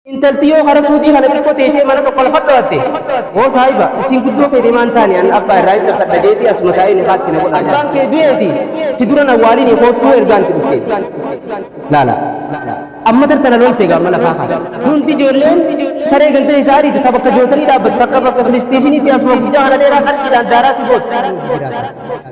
Intalti yoo kara suudii kana xiqqoo teessee mana tokko lafa dhawatte hoo saahiba isin guddoo feete maan taane an abbaa irraa hin cabsadha jeetii asuma taa'ee nikaatti na godha abbaan kee du'eeti si dura na waaliin koottuu ergaanti dhufte laala amma tartana lolte egaa amma lafaa kaata hundi ijoolleen saree gantee isaa ariitu ta bakka jootanii dhaabbatu takka bakka filistiishiniitti asuma guddaa kana dheeraa qarshiidhaan daaraa si gootu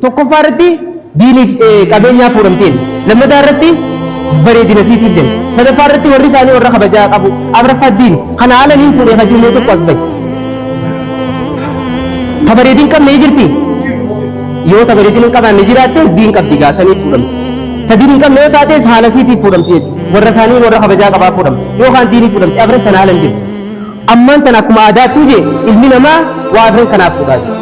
Tokkoffaa irratti diiniif eh, qabeenyaa fuudhamteen. Lammataa irratti bareedina siitiif jenna. Sadaffaa irratti warri isaanii warra kabajaa qabu. Afraffaa diini. Kana haala niin fuudhee kan jiru tokko as bahe. Ta bareedin qabne ni jirti. Yoo ta bareedin hin qabaanne jiraattes diin qabdi gaasanii fuudhamti. Ta diin hin qabne yoo taates haala siitiif fuudhamti jechuudha. Warra isaanii warra kabajaa qabaa fuudhamti. Yookaan diinii fuudhamti. Afran tan haala hin jirti. Ammaan tana akkuma aadaattuu jee ilmi namaa waa afran kanaaf dhugaa jira.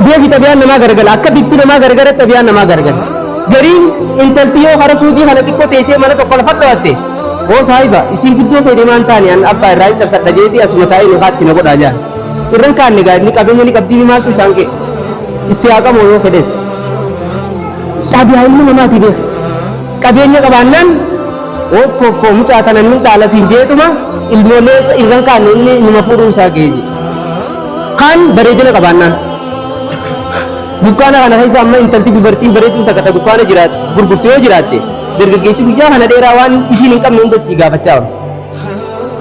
Beefi xabiyaan namaa garagala akka bifti namaa garagara xabiyaan namaa garagalti. Gariin intalti yoo kara suudii kana xiqqoo teessee mana tokko lafa dhawatte hoo saahiba isiin guddoo ta'e deemaan taane an abbaa irraa hin cabsadha jeeti asuma taa'ee nu kaatti na godhaa jaan. Irran kaanne egaa inni qabeenya ni qabdii maaltu isaan kee itti haaqamoo yoo fedhes. Xabiyaa ilmi namaati beeku. Qabeenya qabaannaan Okkoo koo mucaa tana nin dhaala siin jeetuma ilmoolee irran kaanne inni numa fuudhuu isaa ga'e jedhe. Kaan bareedina qabaannaan. Dukkaana kana keessa amma intalti dubartiin bareedduun takka ta dukkaana jiraat gurgurtu yoo jiraatte dargaggeessi guyyaa kana dheeraa waan ishiin hin qabne hunda itti gaafachaa oolu.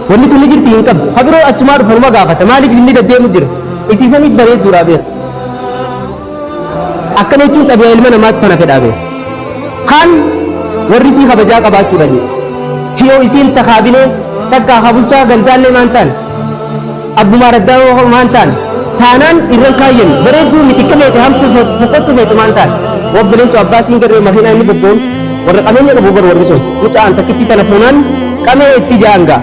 Wanni tuni jirti hin qabdu. Habiroo achumaa dhufanuma gaafata. Maaliif inni daddeemu jira? Isiisaniif bareedduudha beeku. akkana jechuun xabiyaa ilma namaatti kana fedhaa bee kaan warri isii kabajaa qabaachuudha jee hiyoo isiin takaabilee takkaa kabulchaa gandaallee maan taan abbumaa raddaa maan taan taanaan irran kaayyan bareedduu mitikka feete hamtu fokkottu feete maan taan obboleessu abbaa siin garree makiinaa inni bobboon warra qabeenya qabu bar warri sun mucaan takkitti tana fuunaan qabee itti jaanga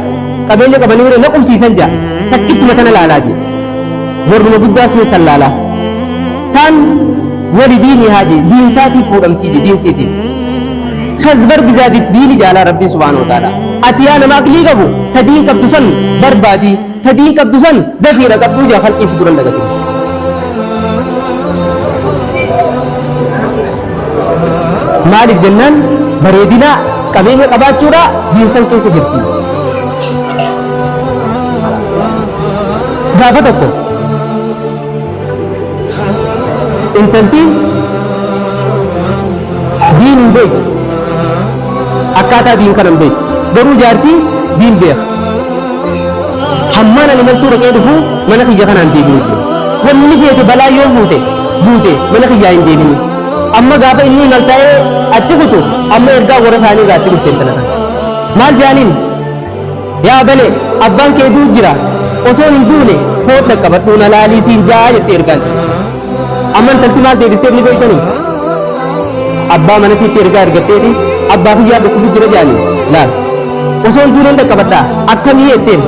qabeenya qabanii warra na qubsiisan jaa takkittuma tana laalaa jee Warruma guddaa siin sallaalaa. Taan wali diinii haaji diinsaatii fuudhamtii je diinsiitii. Kan bar bizaatiif diini jaalaa rabbiin subhaanahu wa ta'ala. Ati yaa nama aqlii qabu ta diin qabdu san barbaadii ta diin qabdu san dafii dhaqabduu jaa halqii si duran dhaqatuu. maaliif jennaan bareedina qabeenya qabaachuudha diinsan keessa jirti. Gaafa tokko intaltiin diin hin beektu akkaataa diin kana hin beektu garuu jaartii diin beeka hammaan ani maltuu dhaqee dhufu mana kiyya kanaan deebi'u jiru wanni feete balaa yoo buute buute mana kiyyaa hin deebini amma gaafa inni maltaa'ee achi kutu amma ergaa warra isaanii irraa itti dhufte intala kana maal jaaniin Yaa bale, abbaan kee du'u jira, osoo hin duune koot dhaqqabadhuu na laalii siin ja'a jetti ergaan. Amma intalti maal deebisteef ni beektanii? Abbaa mana siitti ergaa ergatteeti abbaa kiyyaa dhukkubu jira jedhanii laal. Osoo hin duuneen dhaqqabadhaa akkamii jetteen?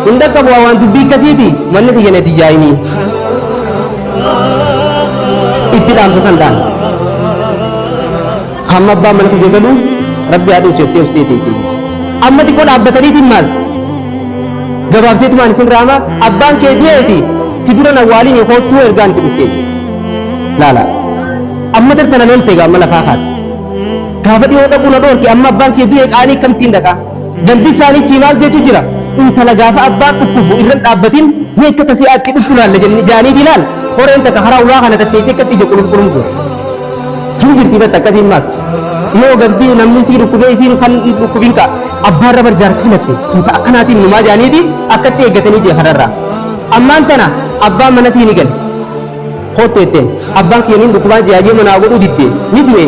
Hin dhaqqabu waan dubbii akkasiiti manni kiyya na diyyaayinii. Itti dhaamsa sandaan. Hamma abbaan mana kiyya galu rabbi haa dhiisu jettee ustee teessee jirti. Amma xiqqoo dhaabbataniitiin maas gabaabseetumaan isin raama abbaan kee du'eeti si dura na waaliin koottuu ergaan itti dhuftee jirti. Laala amma tartana loltee gaamma lafaa kaate. Gaafa dhiyoo dhaquu na dhoorke amma abbaan kee du'e qaanii akkamittiin dhaqaa? Dambii isaaniitii maal jechu jira? Intala gaafa abbaan dhukkubu irra hin dhaabbatin ni akka tasii aatti dhuftu laalla jenni jaanii diilaan horeen takka karaa ulaa kana tatteessee akkatti ija qulum qulum goota. Hin jirti batta akkasiin maas. Yoo gabdii namni sii dhukkubee isiin kan dhukkubin ka abbaan rabar jaarsi filatte tuuta akkanaatiin numaa jaaniiti akkatti eeggatanii jee kanarraa. Ammaan tana abbaan mana sii ni gale. Koottu jetteen. Abbaan kiyya niin dhukkubaa ji'a yoo manaa godhuu didde ni du'e.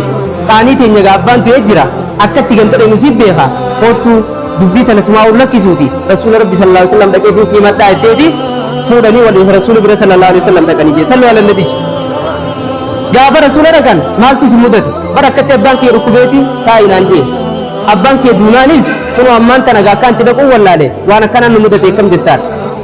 Qaanii teenya gaa abbaan du'ee jira. Akka itti gantale nu siif beeka. Koottuu dubbii tana sumaa'uun lakkisuuti rasuula rabbi sallallahu alaihi wasallam dhaqeetiin sii madhaa jetteeti fuudhanii wal isa rasuula bira sallallahu alaihi wasallam dhaqanii jee sallu ala nabi gaafa rasuula dhaqan maaltu isin mudate bara akkatti abbaan kee dhukkubeeti taa'inaan jee abbaan kee duunaanis kunoo ammaan tana gaa akkaan itti dhaquun wallaale waan akkanaan nu mudate akkam jettaan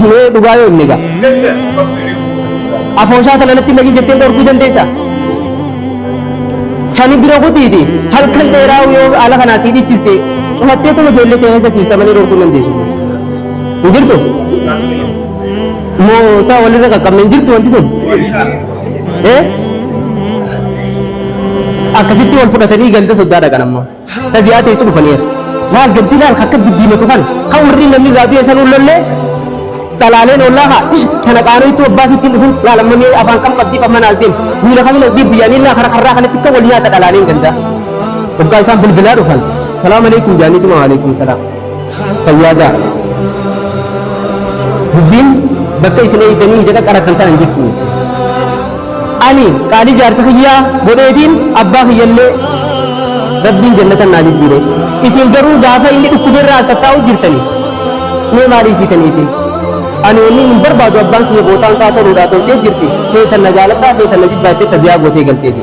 Hiree dhugaa yoo himne gaa. Afooshaa kana natti naqi jettee dhorkuu dandeessa. Sani bira kutiiti halkan dheeraa yoo haala kanaa sii dhichiste cufattee tuma ijoollee ta'e keessa ciista malee dhorkuu dandeessu. Hin jirtu? Moo isaa walirra qaqqabne hin jirtu wanti tun? Eh? Akkasitti wal fudhatanii ganda soddaa dhaqan ammoo. Ka ziyaa teessu dhufaniiru. Maal gaddi laal akka diddiimatu kana ka warri namni irraa du'e san ullollee dhalaaleen ollaa haa ish kana qaanoo itti obbaasii ittiin dhufin laal amma mee afaan kam qabdii qabma naas deemu miila kamin as deebi'u yaanii laa karaa karraa kanatti akka wal nyaata dhalaaleen gandaa. Hoggaa isaan bilbilaa dhufan salaam alaikum jaaniitu ma alaikum salaam. Fayyaadaa. Dubbiin bakka isin eegdanii ija qaqqarattan tana hin jirtu. Ani qaalii jaarsa kiyyaa godheetiin abbaa kiyyallee rabbiin jannatan naa jijjiire. Isin garuu gaafa inni dhukkubeerraa as tattaa'u jirtani. Mee maal hiisitaniitiin? Ani wanni hin barbaadu abbaan kiyya bootaan isaa toluudhaa toltee jirti. Feetan na jaaladhaa feetan na jibbaattee taziyaa gootee galteeti.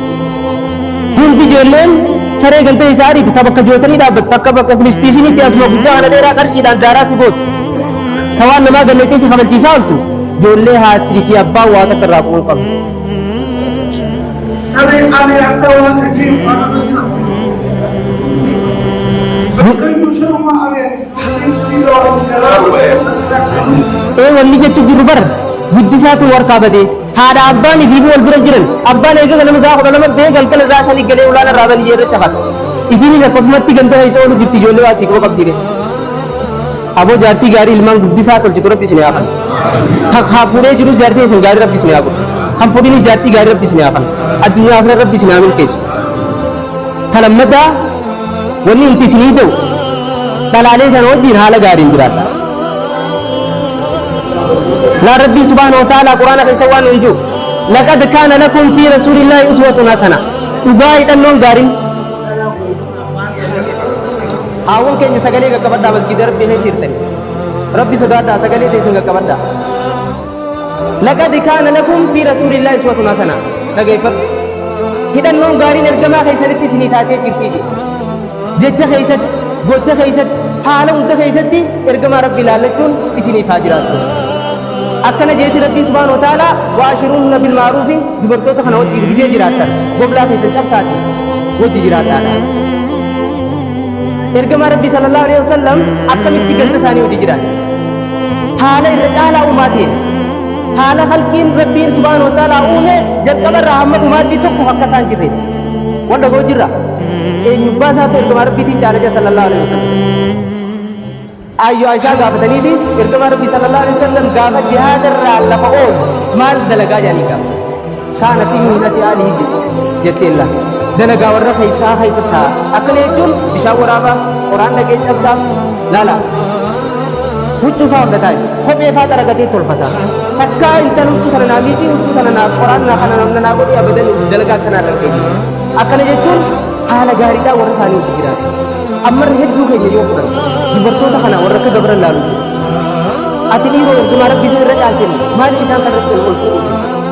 Hundi ijoolleen saree galtee isaa ariiti ta bakka jootanii dhaabbatte akka bakka filistiishiniitti asuma guddaa kana dheeraa qarshiidhaan daaraa si gootu. Ta waan namaa galleettee si kabalchiisaa ooltu ijoollee haattii fi abbaan waa takka irraa bu'uu qabu. Saree ani akka waan dhageen waan irra jira. Bakka iyyuu saruma ani dhiiroo garaa bu'ee Ee wanni jechuun jiru bara guddisaatu warkaa badee. Haadha abbaan ifiifuu wal bira jiran. Abbaan eega ganama isaa kudha lama bee galgala isaa shani galee ulaana irraa baniyyee irra cafata. Isiinis akkasumatti ganda keessa oolu jirti ijoollee waa siikuma qabdiire. Aboo jaartii gaarii ilmaan guddisaa tolchitu rabbi isin yaafan. Kan hafuuree jiru jaartii isin gaarii rabbi isin yaafan. Kan fuudhinis jaartii gaarii rabbi isin yaafan. Addunyaa fi rabbi isin haa milkeessu. Talammadaa Wanni inti isinii ta'u dhalaalee sana wajjin haala gaariin jiraadha. Laa Rabbiin subhaanahu wa ta'aalaa Quraana keessa waan hin jiru. Laqad kaana lakum fi rasuulillaahi uswatun hasana. Dhugaa hidhannoon gaariin. Haawwan keenya sagalee qaqqabadhaa masgiida Rabbii keessa jirtanii. Rabbi sodaadhaa sagalee teessan qaqqabadhaa. Laqad kaana lakum fi rasuulillaahi uswatun hasana. Dhageeffadhu. Hidhannoon gaariin ergamaa keessanitti isinii taatee jirti jedhe. Jecha keessatti, gocha keessatti, haala hunda keessatti ergamaa Rabbii ilaallachuun isiniif haa jiraatu. Akkana jeeti Rabbii subhaanahu wa ta'aalaa waashiruunna bil ma'ruufi dubartoota kana wajjin gidee jiraattan goblaa keessan cabsaati wajji jiraadhaadha. Ergamaa Rabbii sallallahu alaihi wasallam akkamitti ganta isaanii wajji jiraatan? haala irra caalaa uumaatiin haala halkiin rabbiin subhaanahu wa ta'aalaa uume jalqaba irraa hamma dhumaatti tokko akka isaan jirre wal dhagoo jirra eenyubbaa isaatu ergamaa rabbiitiin caala jira sallallahu alaihi wasallam ayyo aishaa gaafataniiti ergamaa rabbii sallallahu alaihi wasallam gaafa jihaada irraa lafa oolu maal dalagaa jedhanii gaafa Kaana fi miinati aali hijji jetteella. Dalagaa warra keessaa keessa ta'a. Akkana jechuun bishaan waraabaa, qoraan dhagee cabsaa, laala. Huccuu faa hunda taa'e. Kophee faa xaragatee tolfata. Takkaa intal huccuu kana naa miicii, huccuu kana naa qoraan naa kana namna naa godhee abadan dalagaa akkanaa irra geenye. Akkana jechuun haala gaariidhaa warra isaanii hojii jiraatu. Ammarri hedduu keenya yoo fudhan dubartoota kana warra akka gabra laalu. Ati dhiiroo ergumaa rabbii isin irra caalteen maaliif isaan kan irratti ol fuudhu?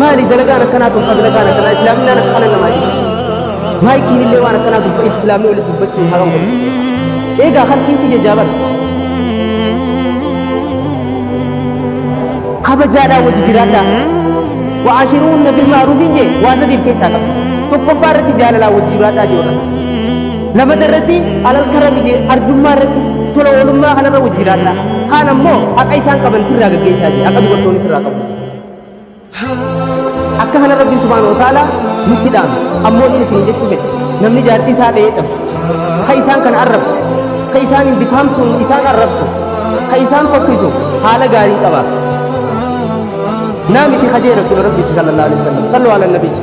Maali dalagaan akkanaa tolfa dalagaan akkanaa islaaminaan akkana namaa jira. Maayikiin illee waan akkanaa tolfa islaamni walitti dubbachuun haram godhu. Eegaa kan fiinsi jajaaban. Kabajaadhaa wajji jiraadhaa. Wa'aashiruunna bil ma'ruufiin jee waa sadiif keessaa qaba. Tokkoffaa irratti jaalalaa wajji jiraadhaa jee warra. Lamata irratti alal karami jee arjummaa irratti tola oolummaa kanarra wajji jiraadhaa. Kaan ammoo haqa isaan qaban irraa gaggeessaa jee haqa dubartoonis irraa qabu. akka kana rabbiin subhaana wa ta'ala nutti dhaame ammoo inni isin jechuu fedhe namni jaartii isaa dha'ee cabsu ka isaan kana arrabsu ka isaan hin bifaamtuun isaan arrabsu ka isaan fokkisu haala gaarii qaba naamiti kajeera tula rabbiitti sallallahu alaihi wasallam sallu ala nabiisi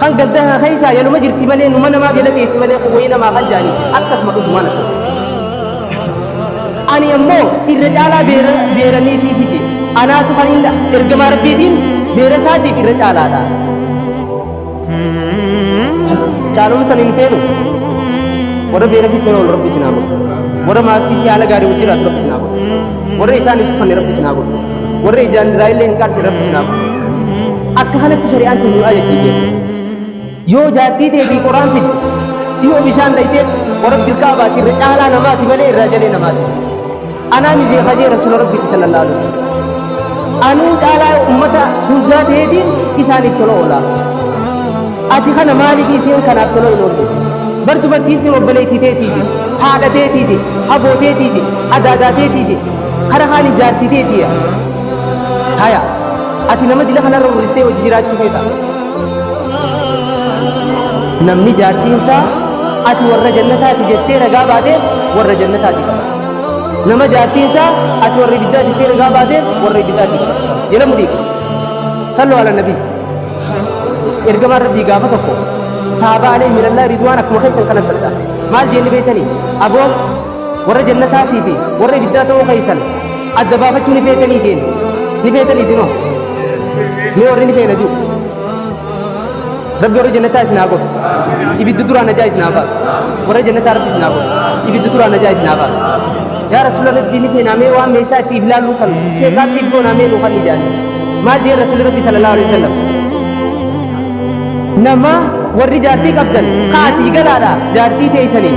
Kan gadda kana keessaa yanuma jirti malee numa namaa biyya dhageessi malee kan wayii namaa kan jaanii akkasuma dhugumaan akkas. Ani ammoo irra caalaa beera beeraniitii fide anaatu kan inni ergamaa rabbiitiin beera isaatiif irra caalaadha. Caalumsa hin feenu warra beera fitnee ol rabbi sinaa godhu warra maatii si haala gaarii wajjiraatu rabbi sinaa godhu. warra isaan hin tuffanne rabbi isin haa godhu warra ijaan irraa illee hin qaarse rabbi isin haa godhu akka kanatti shari'aan tun nu ajajjii jedhu yoo jaartii deebii qoraan fiddu yoo bishaan dhayxee warabbi irkaa baati irra caalaa namaati malee irraa jalee namaati anaa mijee hajee rasuula rabbiiti sallallahu alaihi wasallam anuu caalaa ummata hundaa ta'eetiin isaaniif tola oolaa ati kana maaliif isiin kanaaf tola hin oolle bar dubartiin tun obboleettii teetiiti haadha teetiiti haboo teetiiti adaadaa teetii je kara kaani jaartii teetiya haya ati nama dila kanarra hurristee hojii jiraachuu feeta namni jaartiinsaa ati warra jannataati jettee ragaa baate warra jannataati qaba nama jaartiinsaa ati warra ibiddaa jettee ragaa baate warra ibiddaati qaba jala mudiiqa sallu ala nabii ergamaan rabbii gaafa tokko saabaa alee mirallaa ridwaan akkuma keessan kanatti argaa maal jeenni beektanii aboo Warra jannataatii fi warra ibiddaa ta'uu keessan adda baafachuu ni feetanii jeen. Ni feetanii isinoo. Mee warri ni feena jiru. Rabbi warra jannataa isin haa godhu. Ibidda duraa najaa isin haa baasu. Warra jannataa rabbi isin haa godhu. Ibidda duraa najaa isin haa baasu. Yaa rasuula rabbii ni feena mee waan meeshaa itti ilaallu san sheekaatti iddoon amee nu kan ijaarre. Maal jee rasuuli rabbi sallallahu alaihi wasallam. Nama warri jaartii qabdan kaatii galaadha jaartii teessanii.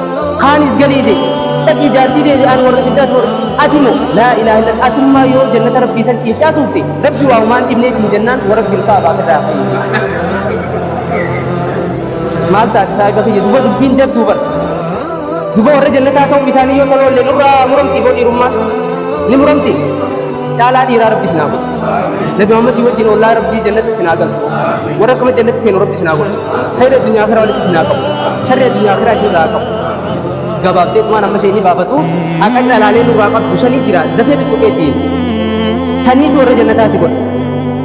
Kaanis galee jee dhaqii jaartii dee aan warra biddaa toora ati moo laa ilaaha illa atummaa yoo jannata rabbii san ciincaa suufte rabbi waa humaan dhibnee siin jennaan warra bilkaa abaa firraa fayyee maal taate saahiba kiyya duba dubbiin jabduu bara duba warra jannataa ta'uu isaanii yoo toloolle nurraa muramti boo dhiirummaa ni muramti caalaa dhiiraa rabbi isin haa godhu. Nabi Muhammadii wajjin ollaa rabbii jannatti isin haa galu. Warra akkuma jannatti seenu rabbi isin haa godhu. Khayri addunyaa akhiraa walitti isin haa qabu. Sharri addunyaa akhiraa isin irraa haa qabu. Gabaabsee tumaan amma ishee ni baafatu. Akka dhalaalee nurraa qabdu shanii jira. Dafee tuttuqee siin. Saniitu warra jannataa si godha.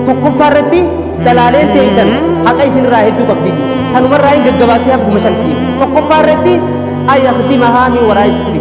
Tokkoffaa irratti dhalaaleen teessan haqa isin irraa hedduu qabdi. Sanumarraa hin gaggabaasee hakkuma shan siin. Tokkoffaa irratti ayyaaftii mahaa min waraa isfiri.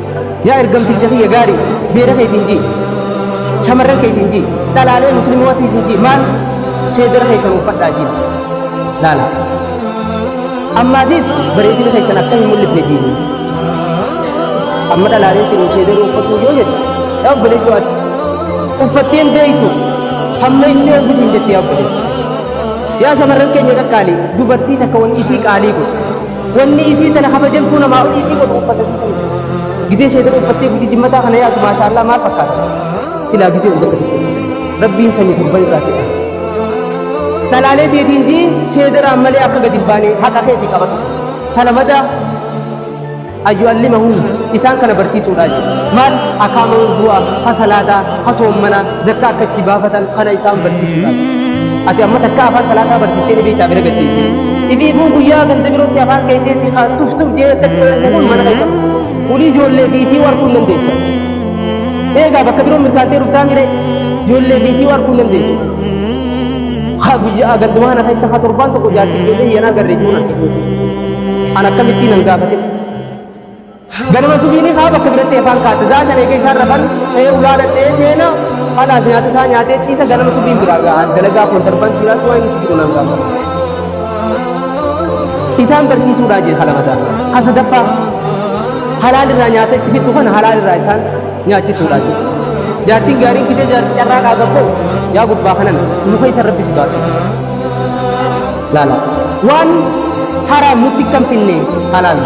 Yaa ergamticha kiyya gaari beera keetiin ji shamarran keetiin ji dhalaalee muslimootiitiin ji maal seedara keessan uffadhaa ji laala ammaasis bareedina keessan akka hin mul'ifne jiini amma dhalaaleen tinu seedara uffatu yoo jedhu yaa obboleessoo ati uffatteen beektu hamma inni obbisiin jettee obboleessa yaa shamarran keenya qaqqaalii dubartii takka wanti isii qaalii godhu Wannii isii tana kabajamtuu namaa olii isii godhu uffata isii saniif gizee sheedara uffattee gujii dimmataa kana yaatu maashaa Allah maal fakkaata silaa gizee uffata sitti rabbiin sanii gurban irraa fedha talaalee teetiin jii sheedaraan malee akka gadi hin baane haqa keetii qabatu tana madaa ayyu allimahu isaan kana barsiisuudhaa jiru maal akaama wuddu'a ha salaataa ha soommanaa zakkaa akka itti baafatan kana isaan barsiisuudhaaf. Ati amma takka afaan salaataa barsiistee dhibii isaa bira gadhiise. Dhibii immoo guyyaa ganda birootti afaan keesseetti haa tuf tuf jee akka itti oofu kun mana keessa. Ulii ijoollee fi isii warquu hin dandeessa. Eegaa bakka biroo mirkaantee dhuftaa mire ijoollee fi isii warquu hin dandeessa. Haa guyyaa gandumaa kana keessa haa torbaan tokko jaartii ijoollee hiyanaa garree jiruun argisiisu. An akkamittiin an gaafate. Ganama subiini kaa bakka biratti efaan kaatte zaa shan eega isaan rafan ka'ee ulaa dhadhee seena halaas nyaata isaa nyaatee ciisa ganama subiin biraa gahaan dalagaa kontarban kiiraas waa inni jiru nan gaafata. Isaan barsiisuudhaa jee halamataa. Kan sadaffaa halaal irraa nyaata itti fiddu kana halaal irraa isaan nyaachisuudhaa jee. Jaartiin gaariin fidee jaarti carraa qaaga koo yaa gurbaa kanan muka isa rabbi si baatu. laala waan haraam nutti kan finne halaal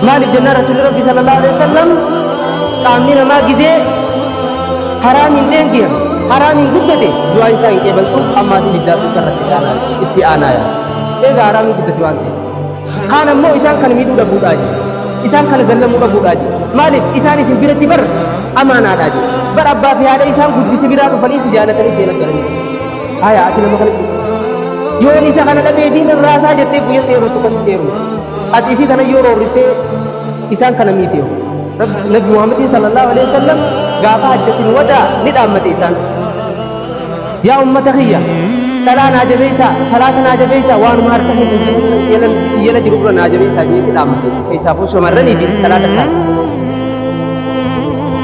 maaliif jennaan rasuulli rabbi sallallahu alaihi wasallam qaamni namaa gizee haraamiin dheengiya haraamiin guddate du'aa isaa hin qeebaltu ammaas ibiddaatu isarratti aanaa itti aanaa yaa eega haraamiin guddate waan ta'e kaan ammoo isaan kana miidhuu dhabuudhaa jiru isaan kana zallamuu dhabuudhaa jiru maaliif isaan isin biratti bar amaanaadhaa jiru bar abbaa fi haadha isaan guddise biraa dhufanii si jaalatanii seenaa galanii Haya ati nama kana cuuta. Yoon isa kana dhabee fi nan raasaa jettee guyya seeruu tuqa si seeruu. Ati isii tana yoo roorristee isaan kana miitee. Nabi Muhammadin sallallahu alaihi wasallam gaafa hajjatin wadaa ni dhaammate isaan. Yaa ummata kiyya dhalaa naa jabeessaa salaata naa jabeessaa waanuma harka keessa jiru yalan si yala jiru dura naa jabeessaa jeetti dhaammate. Keessaafuu shamarranii fi salaata taate.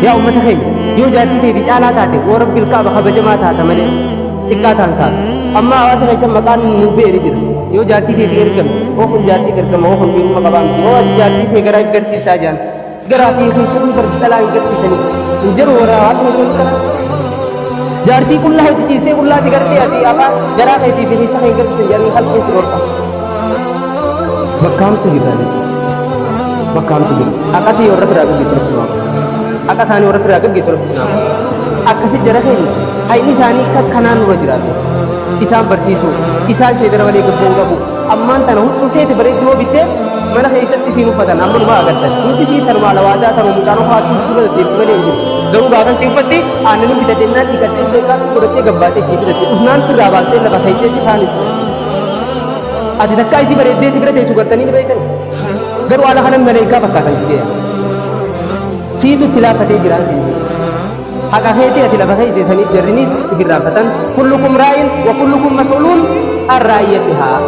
yaa ummata keenya yoo jaartii ta'e caalaa taate woo rabbil kaaba kabajamaa taata malee xiqqaa taan taata amma hawaasa keessan maqaan nu beeri jira yoo jaartii ta'e ergame oo kun jaartii ergama oo kun dhiiruma qabaa miti oo ati jaartii ta'e garaa hin garsiistaa jaan garaa fi keessan hin garsi dhalaa hin garsiisanii hin jiru warra hawaasa keessan kana jaartii qullaa hojjechiistee qullaa si gartee ati afaan garaa keetii fi keessa kee hin garsiisan jaartii halkeessi dhorka Bakkaamtu jirra jechuudha. Bakkaamtu jirra. Akkasii warra biraa gaggeessu rabbi naaf. Akka isaanii warra biraa gaggeessu rabbi naaf. Akkasi jara keenya hayni isaanii kan kanaan nurra jiraate. Isaan barsiisuu, isaan sheedara malee gabboo qabu. Ammaan tana hunduu keeti bareedduu yoo bittee mana keessatti isiin uffatan amma numa agartan. Nuti isiin tanuma alawaadaa tanuma mucaan uffaachuun suura deddeebiin malee hin jiru. Garuu gaafa si uffatti aannan bitatee naan dhiigattee sheekaa godhattee gabbaatee kee bitate. Ufnaan irraa baastee lafa keessatti kaan isa. Ati takkaa isii bareeddee si bira teessu gartanii ni beektan. Garuu haala kanan maleekaa fakkaatan jeeya. Siitu itti laaffatee jiraan siin jedhe. Haqa keetii ati lafa keessa isaniif jarrinis itti irraanfatan. Kullukum raa'in wa kullukum mas'uluun an raa'iyatihaa.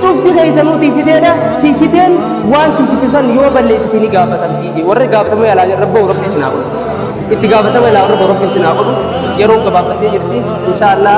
Cufti keessanuu tiisiteedha. Tiisiteen waan tiisitu san yoo balleessite ni gaafatamti jedhe. Warri gaafatamuu yaalaa jiran rabbi rabbi isin haa godhu. Itti gaafatama ilaa rabbi rabbi isin haa godhu. Yeroon gabaabbattee jirti. Inshaallah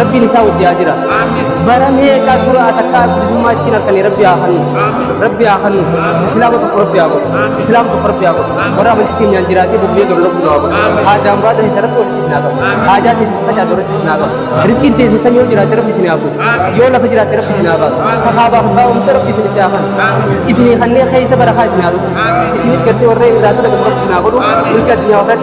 Rabbiin isaa wajji haa jiraatu. Bara meeqaa dura atakkaa bilisummaa achiin harkanii rabbi haa hannu. Rabbi haa hannu. Islaama tokko rabbi haa godhu. Islaama tokko rabbi haa godhu. Warra amantii keenyaan jiraatee bobbee gara lolkuu nu haa godhu. Haadaan baata isa rabbi walitti isin haa qabu. Haajaa teessi facaatu irratti isin haa qabu. Riskiin teessi samii yoo jiraate rabbi isin haa buusu. Yoo lafa jiraate rabbi isin haa baasu. Kakaa baafu kaa uumte rabbi isin itti haa hannu. Isinii kanneen keessa bara kaa isin haa dhugsu. Isinis gartee warra irraa sadaqatu rabbi isin haa godhu. Milki addunyaa warra